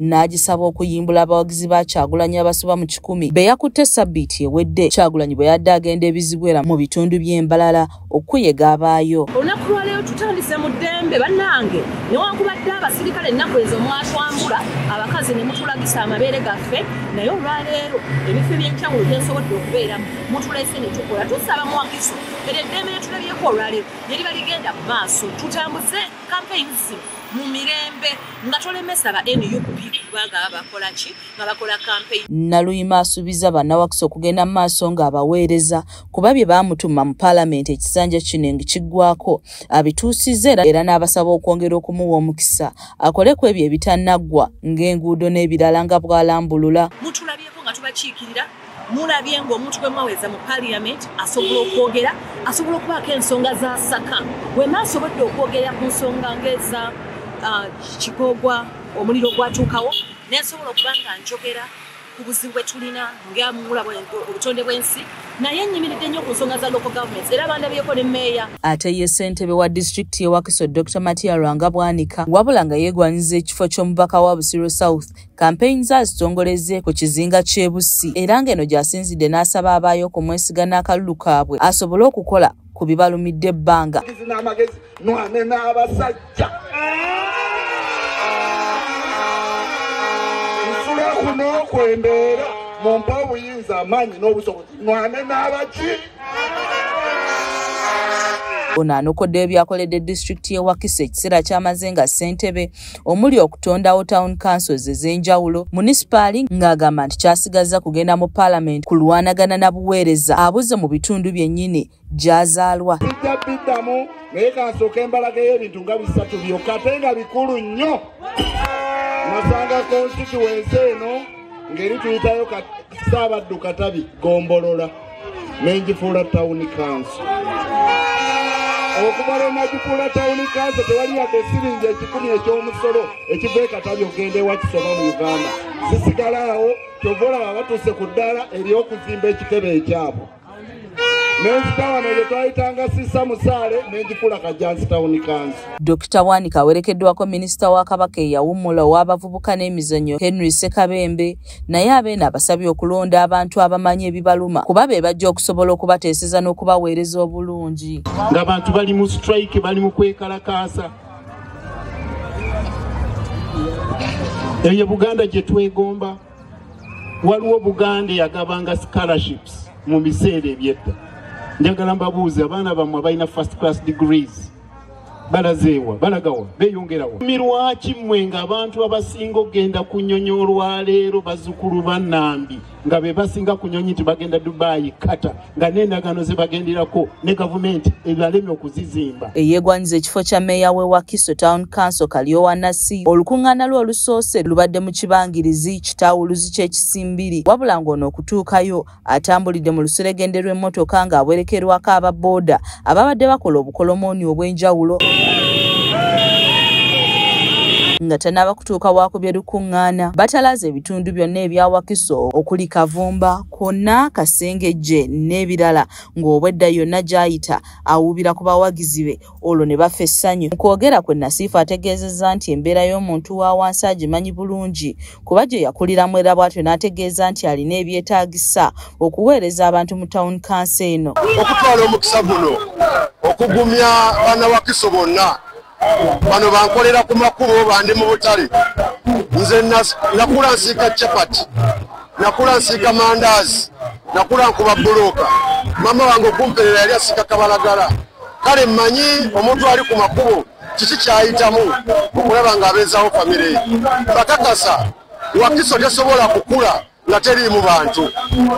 n'agisaba okuyimbula abawagizi ba kyagulanyi abasoba mu kikumi be yakutte sabbiiti ewedde kyagulanyi bwe yadde agenda ebizibu era mu bitundu by'embalala okuyega abaayo olunaku lwaleero tutandise mu ddembe bannange newankubadde abasirikale ennaku ezo mwatwambula abakazi ne mutulagisa amabeere gaffe naye olwaleero ebifo ebyenjawulo byensobodde okubeeramu mutulese ne tukola tusaba muwagizi era eddembe lyetulabyeko olwaleero lyeriba ligenda mu maaso tutambuze campaigns zino mu mirembe nga tolemesa ba nup kuba nga bakola ki nga bakola campaign naluyima asuubiza bannawakisa okugenda mu maaso ng'abaweereza kuba bye baamutuma mu paalamenti ekisanja kino engi kiggwako abituusizza era era n'abasaba okwongera okumuwa omukisa akole ku ebyo ebitannaggwa ng'enguudo n'ebirala nga bw'alambulula mutulabyeko nga tubakiikirira mulabye ng'omuntu gwe mwaweza mu parliament asobola okwogera asobola okubaako ensonga zasaka wema asobodde okwogerera ku nsonga ngaeza uh, kigogwa omuliro gwatuukawo nesobola okuba nga njogera ku buzibu bwe tulina ngamula obutonde bw'ensi naye nyimiridde nnyo ku nsonga za local governments era bandabyeko ne meeya ate ye ssentebe wa disitulikiti y'ewakiso dr matia lwanga bwanika wabula nga yeegwanyiza ekifo ky'omubaka wa busiro south Kampeyini ze azitongolezze ku kizinga ky'e Bussi era ng'eno gy'asinzidde n'asaba abaayo okumwesiga n'akalulu kaabwe asobole okukola ku bibalumidde ebbanga. n'okwembeera mu mpa obuyinza amaanyi n'obusobozi mwane n'abaki ono anokoddeyo byakoledde disitulikiti y'e wakisa ekiseera kyamaze nga ssentebe omuli okutondawo town councils ez'enjawulo munisipaali ng'agamba nti kyasigazza kugenda mu paalamenti kulwanagana na buweereza abuze mu bitundu byennyini gy'azaalwa tujja biddamu naye kansooka embalaga y'ebintu nga bisatu byokka ate nga bikulu nnyo nasanga konsituwensi eno ngeri tuyitayo saabaddu katabi gombolola nengifuula tawuni kanso okuva lwe nagifuula tawuni kanso tewali yadde siringi ekikumi eky'omusolo ekiva ekatabi okugenda ewakisoba mu uganda zisigala awo kyova olaba batuuse ku ddaala ery'okuzimba ekitebe ekyabwe nenzita wano ye twayitanga sisa musaale nengikula kajansi tawuni kansi dokita wanika awerekeddwako minisita wa kabaka eyawummula ow'abavubuka n'emizanyo henry sekabembe naye abeeno abasabye okulonda abantu abamanyi ebibaluma kuba be bajja okusobola okubateeseza n'okubaweereza obulungi ng'abantu bali mu strike bali mu kwekalakaasa eyo buganda gye twegomba waliwo buganda eyagabanga scholarships mu biseera ebyedda njagala mbabuuzi abaana bammwe abalina first class degrees balazeewa balagawa beyongerawa mirwaki mmwe nga abantu abasinga okugenda ku nyonyi olwaleero bazukulu banambi nga be basinga ku nyonyi nti bagenda dubaayi kata nga n'endagaano ze bagenderako ne gavumenti ebalemye okuzizimba eyeegwanyiza ekifo kya meeya we wakiso town council kalyowanasi olukuŋŋaana lwe olusoose lubadde mu kibangirizi kitawuluzi ky'ekisimbiri wabula ng'ono okutuukayo atambulidde mu luseregende lw'emmotoka ng'awerekerwako aba booda ababadde bakola obukolomooni obw'enjawulo nga tanaaba kutuuka waakubye lukuŋŋaana batalaaza ebitundu byonna ebya wakiso okuli kavumba konna kasengejje n'ebirala ng'obwedda yonna gy'ayita awuubira ku bawagizi be olwo ne bafa essanyu mu kwogera kwe nasiifu ategeezezza nti embeera y'omuntu wa wansi agimanyi bulungi kuba gye yakuliramu era bwatyo n'ategeeza nti alina ebyetaagisa okuweereza abantu mu tawuni kansi eno okutwala omukisa guno okugumya banawakiso bonna bano bankolera ku makubo bandi mu butale nze nakula nsiika capati nakula nsiika mandaazi nakula nkuba bbulooka maama wange okumperera yali asiika kabalagala kale mmanyi omuntu ali ku makubo kiki kyayitamu okulaba ng'abeezawo famire bakakasa wakiso tesobola kukula nga teriimu bantu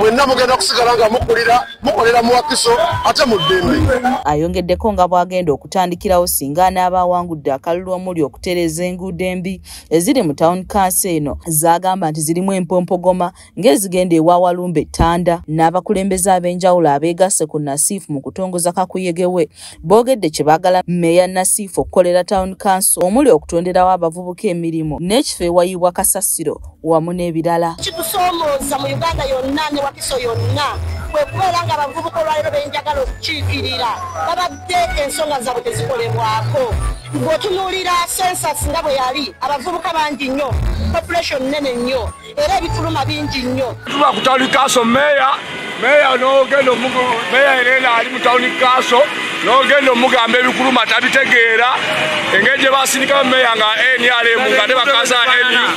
mwenna mugenda kusigala nga mukulira mukolera mu wakiso ate mu ddembe ayongeddeko nga bw'agenda okutandikirawo singa anaaba awangudde akalulu omuli okutereeza enguudo embi eziri mu tawuni kansi eno z'agamba nti zirimu empompogoma ng'ezigenda ewa Walumbe Ttanda n'abakulembeze ab'enjawulo abeegasse ku Nasiif mu kutongoza kakuyege we boogedde kye baagala mmeeya Nasiif okukolera Town Council omuli okutonderawo abavubuka emirimu n'ekifo ewayibwa kasasiro wamu n'ebirala kitusoomooza mu Uganda yonna ne Wakiso yonna kwe kubeera nga abavubuka olwaleero benjagala okukiikirira babadde ensonga zaabwe tezikolebwako bw'otunuulira sensas nga bwe yali abavubuka bangi nnyo population nnene nnyo era ebifuluma bingi nnyo tuba ku tawuni kaaso meeya meeya n'ogenda omugu meeya ereena ali mu tawuni kaaso n'ogenda omugamba ebikuluma tabitegeera engeri gye basindikamu meeya nga nrm nga ne bakaza nup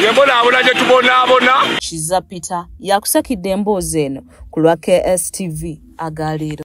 yembonaabona gye tubonaabona kiza peter yakusakidde emboozi eno ku lwa kstv agaleero